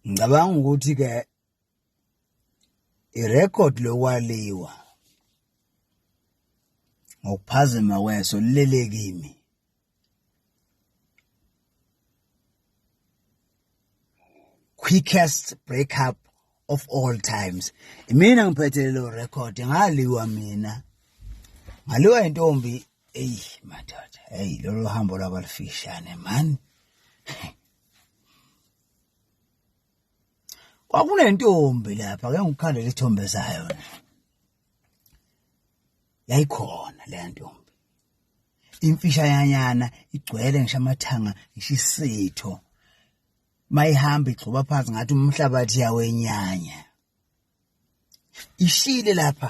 ngicabanga ukuthi ke irecord lokwaliwa ngokuphazima kweso lilele kimi quickest breakup of all times mina ngiphethe lelo record ngaliwa mina ngaliwa intombi eyi madoda eyi lolo hambo lwabalufishane mani kwakunentombi lapha ke ngikukhandela isithombe sayo yayikhona leya ntombi imfisha yanyana igcwele ngisho amathanga ngisho isitho mayihamba igxoba phansi ngathi umhlabathi yawenyanya ishile lapha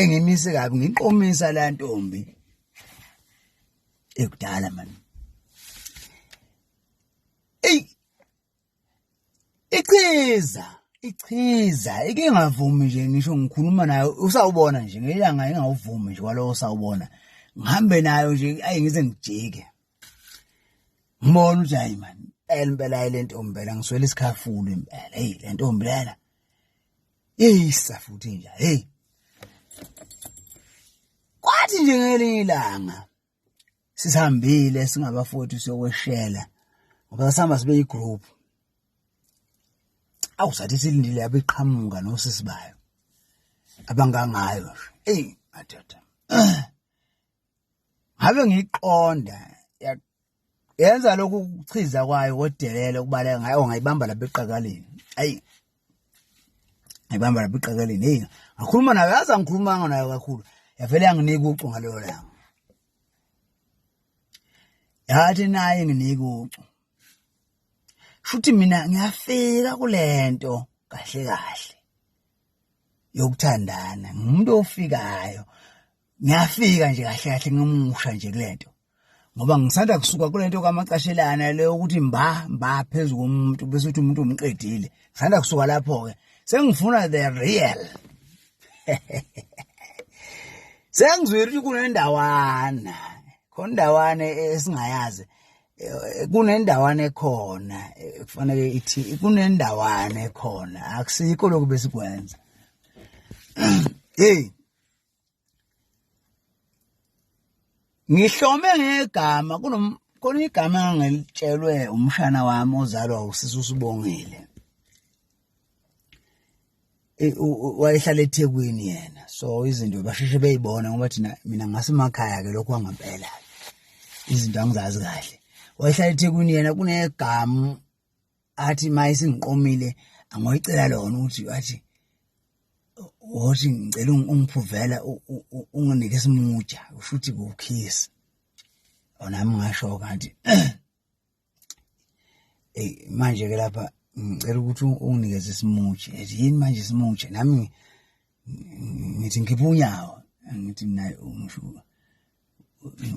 engimise kabi ngiqomisa la ntombi ekudala mani ey ichiza ichiza ike ngavumi nje ngisho ngikhuluma nayo usawubona nje ngelanga engawuvumi nje kwalowo sawubona ngihambe nayo nje ayi ngize ngijike ngibona ukuthi hayi mani impela impela le ntombi phela ngiswele isikhafulu impela eyi le ntombi lena Hey safuthi nje hey. Kwathi nje ngelinye ilanga sisihambile singabafowethu siyokweshela ngoba sihamba sibe igroup. Awu sathi silindile abeqhamuka nosisi bayo. Abangangayo. Hey madoda. ngabe ngiyiqonda yenza lokhu kuchiza kwayo kodelele ukubaleka ngayo ngayibamba lapha eqakaleni ayi ngayibamba lapha eqakaleni hey ngakhuluma nayo yazi angikhulumanga nayo kakhulu yavele yanginika ucu ngaleyo langa yathi naye nginika ucu shuthi mina ngiyafika kulento kahle kahle yokuthandana ngumuntu ofikayo ngiyafika nje kahle kahle ngimusha nje kulento ngoba ngisanda kusuka kulento kamacashelana le ukuthi mba mba phezulu komuntu bese uthi umuntu umqedile ngisanda kusuka lapho ke sengifuna the real sengizwile ukuthi kunendawana khona indawane esingayazi eh, kunendawana ekhona eh, kufanele ithi kunendawana ekhona akusikho lokhu besikwenza hey ngihlome ngegama khona igama engangilitshelwe umshana wami ozalwa usisi usibongile wayehlala ethekwini yena so izinto basheshe beyibona ngoba thina mina ngasemakhaya ke lokho kwangempela izinto angizazi kahle wayehlala ethekwini yena kunegama athi uma esingiqomile angoyicela lona ukuthi athi wothi ngicela ungiphuvela unginike isimuja usho ukuthi kukhisi onami ngasho kanti eyi manje ke lapha ngicela ukuthi unginikeze isimuji ethi yini manje isimuji nami ngithi ngikhipha unyawo angithi mina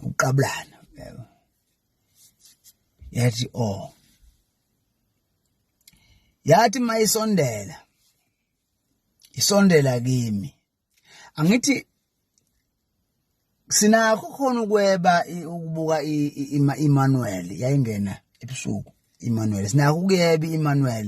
uqabulana yabo yathi oh yathi mayisondela isondela kimi angithi sinakho khona ukweba ukubuka iManuel yayingena ebusuku iManuel sinakho ukuyeba iManuel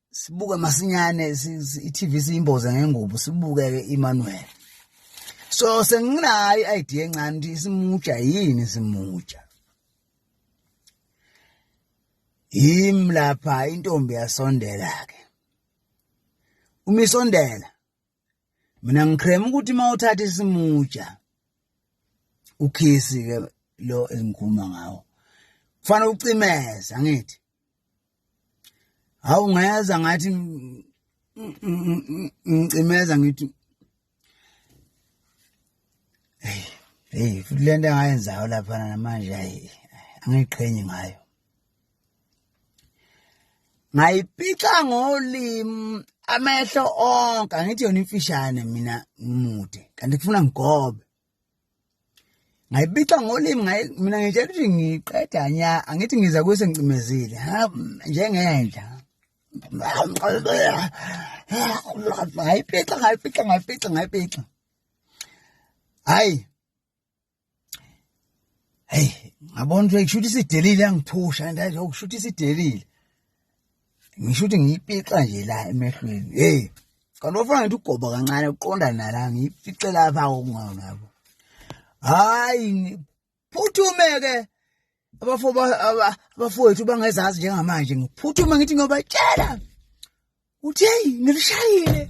sibuke masinyane i-TV siyimboze ngengubo sibuke ke Emmanuel so senginayo idea encane ukuthi simuja yini simuja yim lapha intombi yasondela ke umisondela mina ngiqhema ukuthi uma uthatha isimutsha ukhisi ke lo engikhuluma ngawo kufanele ucimeza ngithi hawu ngeza ngathi ngicimeza ngithi hey hey futhi lento engayenzayo lapha namanje ayi angiqhenyi ngayo ngayipica ngolimi amehlo onke angithi yona imfishane mina ngimude kanti kufuna ngigobe ngayibica ngolimi mina ngitshela ukuthi ngiqeda nya angithi ngiza kuse ngicimezile njengenja ngayipica ngayipica ngayipica ngayipica hayi hey ngabona ukuthi kushuthi sidelile angithusha and ayo kushuthi sidelile ngisho ukuthi ngiyipixa nje la emehlweni hey kanti ofana ngithi ugoba kancane uqonda nala ngiyipixe lapha okungona yabo hayi phuthume ke abafo abafowethu bangezazi njengamanje ngiphuthuma ngithi ngiyobatshela uthi hey ngilishayile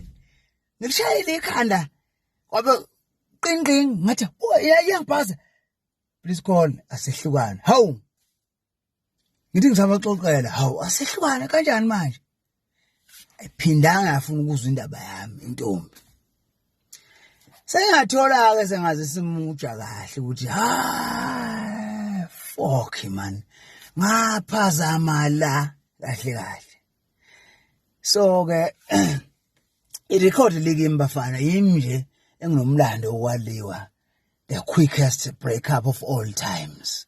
ngilishayile ikhanda kwabe qinqing ngathi oh, iyangibhaza please call asehlukana hawu ngithi ngisabaxoxela hawu asehlukana kanjani manje ayiphindanga yafuna ukuzwa indaba yami intombi sengathola-ke sengaze simutsha kahle ukuthi ha fok man ngaphazama la kahle kahle so-ke irekhodi likimi bafana yimi nje enginomlando wokwaliwa the quickest breakup of all times